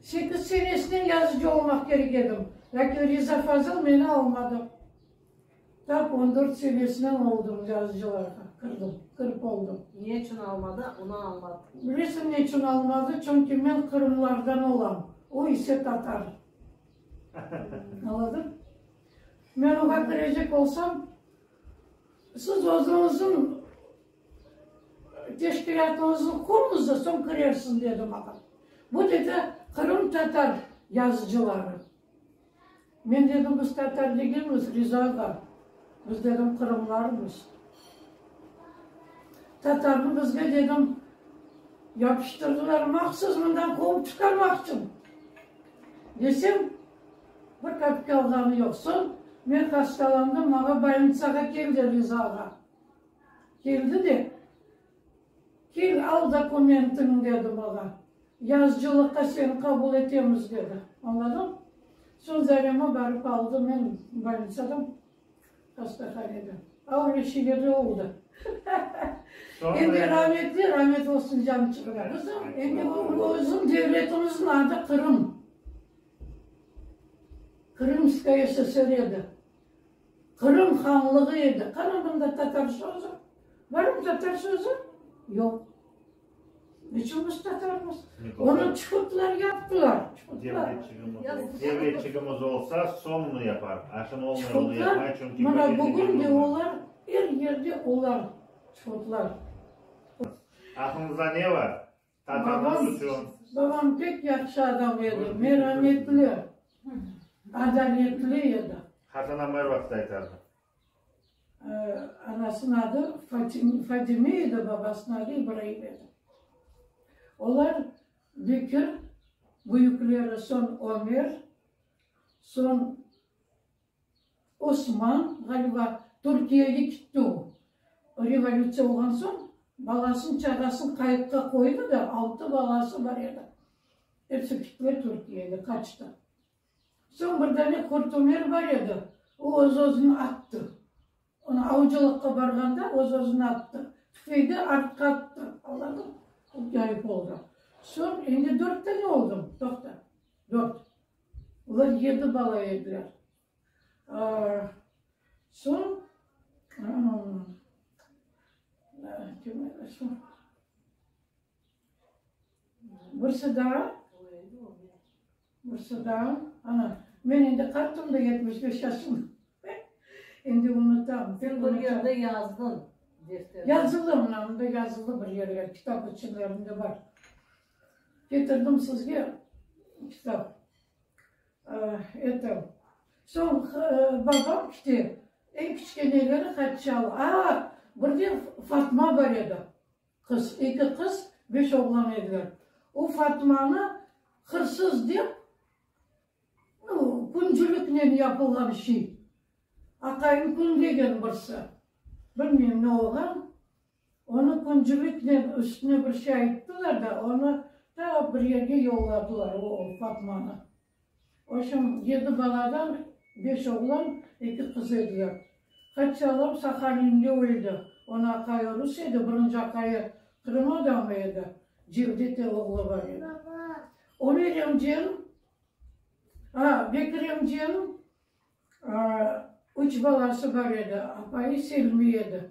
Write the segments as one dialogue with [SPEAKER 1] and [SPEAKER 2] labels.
[SPEAKER 1] Sekiz senesine yazıcı olmaq kerek edim, lâkin Riza Fazıl meni almadı. Tap on dört senesinen oldım, yazıcılarğa kirdim, kirip oldım. Ne içün almadı,
[SPEAKER 2] onı añlat. Bilesiñ, ne içün
[SPEAKER 1] almadı? Çünki men qırımlardan olam, o ise tatar. Añladın? Men oña kirecek olsam, siz özüñizniñ Teşkilâtınıznı qurıñız da, soñ kirersiz, dedi maña. Bu, dedi, qırımtatar yazıcıları. Men dedim, biz tatar degilmiz, Riza ağa, biz, dedim, qırımlarmız. Tatarnı bizge, dedim, yapıştırdılar mahsus mından quvıp çıqarmaq içün, desem, bir kapika alğanı yoq. Soñ men hastalandım, maña bolnitsağa keldi Riza ağa. Keldi de, Kel, al dokumentiñi, dedi maña. Yazıcılıqqa seni qabul etemiz, dedi. Añladın? Soñ Zarema barıp aldı meni bolnitsadan, hastahaneden. Ağır ve şiirli oldı. Endi rametli, ramet olsun, canı çıqmay. Qızım, endi bizim devletimizniñ adı Qırım. Krımskaya SSR edi. Qırım hanlığı edi. Qırımında tatar sözü barmı? Tatar sözü yoq. Neçün biz tatarmız? Onı çukutlar yaptılar.
[SPEAKER 3] Devletçigimiz olsa soñunu yapar. A şimdi olmay onu yapmay çünki. Mana bugün de
[SPEAKER 1] olar er yerde olar çukutlar.
[SPEAKER 3] Aqlınızda ne var? Babam pek
[SPEAKER 1] yahşı adam edi, merametli, adaletli edi. Hatına mır vaqıt
[SPEAKER 3] aytardı.
[SPEAKER 1] Anasınıñ adı Fadime edi, babasınıñ adı İbraim edi. Olar Bekir, büyükleri soñ Ömer, soñ. Osman, ğaliba, Türkiyege kitti o. Revolütsiya olğan soñ balasın, çağasın qayıqqa qoydı da, altı balası bar edi. Episi kittiler Türkiyege, qaçtı. Soñ bir dane qurtümer bar edi, o öz-özüni attı. Onı avcılıqqa barğanda öz-özüni attı. Tüfeği artqa attı, Allahım, qut yayıp oldı. Soñ endi dört dane oldı, toqta, dört. Olar yedi bala ediler. Soñ, birisi daa, birisi daa, ana, men endi qartım da, yetmiş beş yaşım, endi unutam. Sen bir yerde
[SPEAKER 2] yazdın defterde. Yazılı,
[SPEAKER 1] mına mında yazılı bir yerler, kitap içlerinde bar. Ketirdim sizge kitap. Etim. Soñ babam kite. Eñ kiçkeneleri Haçal. Aa, birden Fatma bar edi. Qız. Eki qız, beş oğlan ediler. O Fatmanı hırsız dep, bu küncüliknen yapılğan şey. Aqayım küngegen birisi. Bilmeyim, ne olğan. Onı küncüliknen üstüne bir şey ayttılar da, onı ta bir yerge yolladılar, o Fatmanı. Oşun, yedi baladan beş oğlan, eki qız ediler. Qaçalım, Sahalinde o edi, onı aqayı rus edi, birinci aqayı Qırım adamı edi, Cevdete oğlu bar edi. Ömer emcem, a, Bekir emcem, üç balası bar edi, apayı Selmi edi.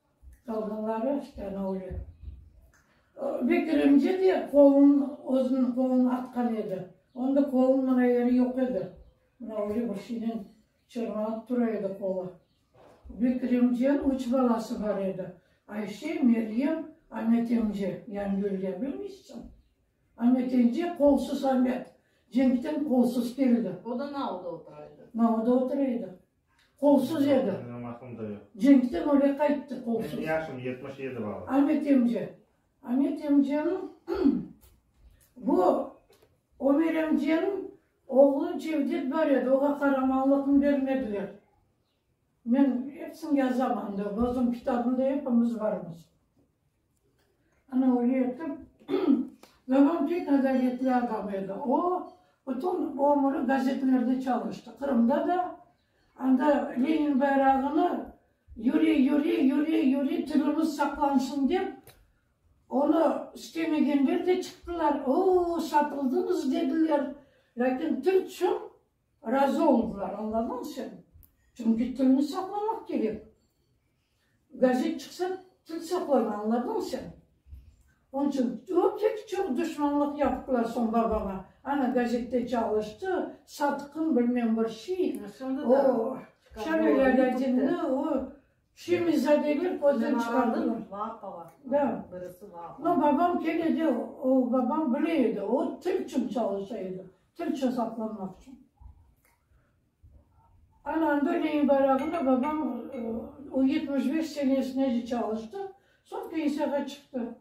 [SPEAKER 1] Qalğanları avtonovlı. Ve kiremce de qolun, özüniñ qolun atqan edi. Onda qolun mına yeri yoq edi. Mına öyle bir şeynen çırmalıp tura edi qolu. Ve kiremcenin üç balası bar edi, Ayşe, Meryem, Amet emce. Yani Gülge, bilmeysiñ? Amet emce qolsuz Amet, cenkten qolsuz keldi. O da Nauda otura
[SPEAKER 2] edi. Nauda otura edi.
[SPEAKER 1] Qolsuz edi. Menim aqlım da yoq.
[SPEAKER 3] Cenkten öyle qayttı
[SPEAKER 1] qolsuz. Menim yaşım
[SPEAKER 3] yetmiş
[SPEAKER 1] yedi
[SPEAKER 3] bala. Amet emce.
[SPEAKER 1] Amet emceniñ bu Ömer emceniñ oğlu Cevdet bar edi, oğa qaramanlıqnı bermediler. Men epsini yazam anda, özüm kitabımda epimiz barmız. Ana, öyle etip, Zaman pek adaletli adam edi. O, bütün ömrü gazetelerde çalıştı, Qırımda da. Anda Lenin bayrağını yüre, yüre, yüre, yüre, tilimiz saqlansın dep, onı istemegenler de çıqtılar, Oo, satıldınız, dediler. Lâkin til çün Razı oldılar, añlamaq içün, çünki tilni saqlamaq kerek. Gazet çıqsa, til saqladı, añladın sen. Onıñ içün öte çoq duşmanlıq yapıplar soñ babama. Ana, gazette çalıştı, satqın, bilmem bir şey. O, Şamil Alâdinni, o, şemizadeler közden çıqardılar. Da.
[SPEAKER 2] Amma babam kene de,
[SPEAKER 1] o, babam bile edi, o, til içün çalışa edi. Türkçe saqlamaq içün. Ana, anda neyin barağında babam o yetmiş beş senesinece çalıştı, soñ pensiyağa çıqtı.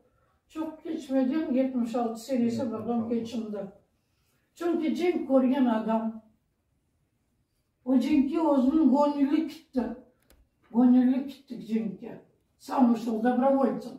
[SPEAKER 1] Çoq keçmeden yetmiş altı senesi babam keçindi. Çünki cenk körgen adam. O cenkke özüniñ göñüli kitti. Göñüli kitti cenkke. Sami şol, dobrovoltsem.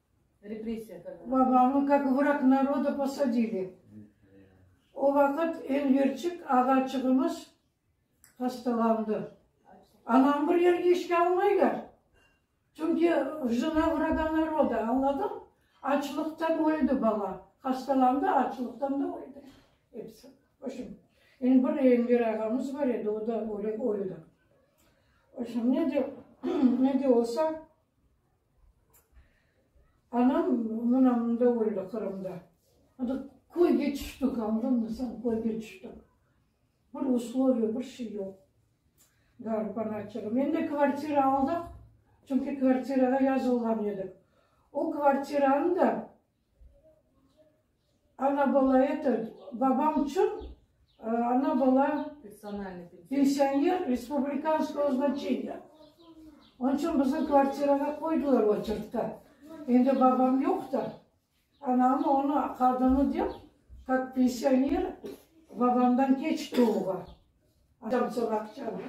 [SPEAKER 2] Babamı, kak vrak
[SPEAKER 1] naroda, posadili. O vaqıt Enverçik ağaçığımız hastalandı. Anamı bir yerge işke almaylar. Çünki jına vraga naroda, añladın? Açlıqtan öldi bala. Hastalandı, açlıqtan da öldi. Episi. Vobşem, endi bir Enver ağamız bar edi, o da öldi. Vobşem, ne de, ne de olsa, Anam mına mında öldi, Qırımda. Anda köyge tüştik, añladınmı sen, köyge tüştik. Bir usloviya, bir şey yoq. Garip anaçığım. Endi kvartira aldıq, çünki kvartirağa yazılğan edik. O kvartiranı da Ana bala etil, babam içün ana bala
[SPEAKER 2] pensioner
[SPEAKER 1] respublikanskoye znaçeniye. Onıñ içün bizni kvartirağa qoydılar oçerkta. Endi babam yoq ta, anam onı aqadını dep, kak pensioner babamdan keç tuvğa. Aqçanı.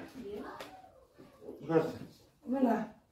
[SPEAKER 1] Mına.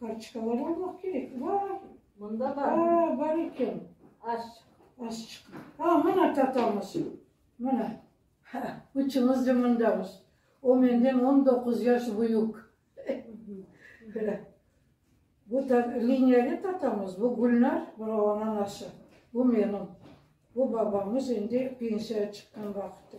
[SPEAKER 1] Kartoçkalar almaq kerek. Vay! Mında bar.
[SPEAKER 2] Aa, bar eken.
[SPEAKER 1] Aç.
[SPEAKER 2] Aç çıqı.
[SPEAKER 1] Aa, mına tatamız. Mına. Ha, üçümiz de mındamız. O menden on doquz yaş büyük. Bu ta Liniyali tatamız, bu Gülnar, bura onıñ anası, bu menim. Bu babamız endi pensiyağa çıqqan vaqıtı.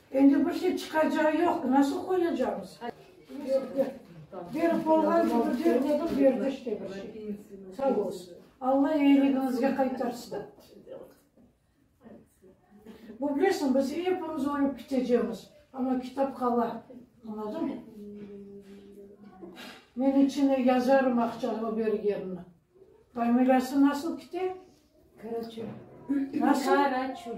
[SPEAKER 1] Endi bir şey çıqacağı yoq, nasıl qoyacağımız? Berip olğan kibi ber dedim, berdi işte bir şey. Sağ olsun. Alla eyiligiñizge qaytarsın. Bu bilesiñ, biz epimiz ölüp ketecemiz, amma kitap qala. Añladın? Men içine yazarım aqçanı bergenini. Familiyası nasıl kite? Karaçul.
[SPEAKER 4] Nasıl?
[SPEAKER 1] Karaçul.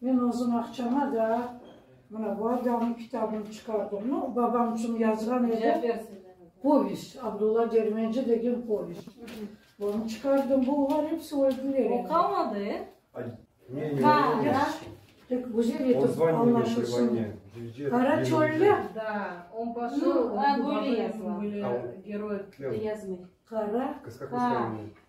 [SPEAKER 1] Men özüm aqşama da mına bu adamnıñ kitabını çıqardım. No, babam içün yazğan edim. Povest, Abdulla Dermenci degen povest. Onı çıqardım. Bunlar hepsi öldüler endi. Oqamadı,
[SPEAKER 2] e?
[SPEAKER 4] Tek
[SPEAKER 5] güzel
[SPEAKER 1] etip añlaşılsın.
[SPEAKER 5] Qara çölde? Da,
[SPEAKER 1] on
[SPEAKER 2] poşel,
[SPEAKER 4] böyle
[SPEAKER 2] yazıla.
[SPEAKER 4] Qara.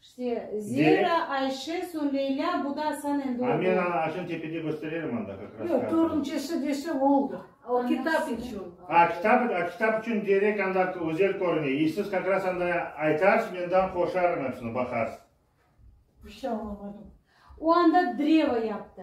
[SPEAKER 4] İşte, Zehra, Ayşe, soñ Leyla, bu da Asan endi oldı. A men aña aşan tepede
[SPEAKER 3] göstererim anda kak ras. Yoq, törüncesi dese
[SPEAKER 1] oldı. O kitap
[SPEAKER 2] içün. A kitap, a kitap
[SPEAKER 3] içün derek anda özel körüne. E siz kak ras anda aytarsız, menden qoşarım hepsini, baqarsız. Bir
[SPEAKER 1] şey añlamadım. O anda
[SPEAKER 4] drevo yaptı.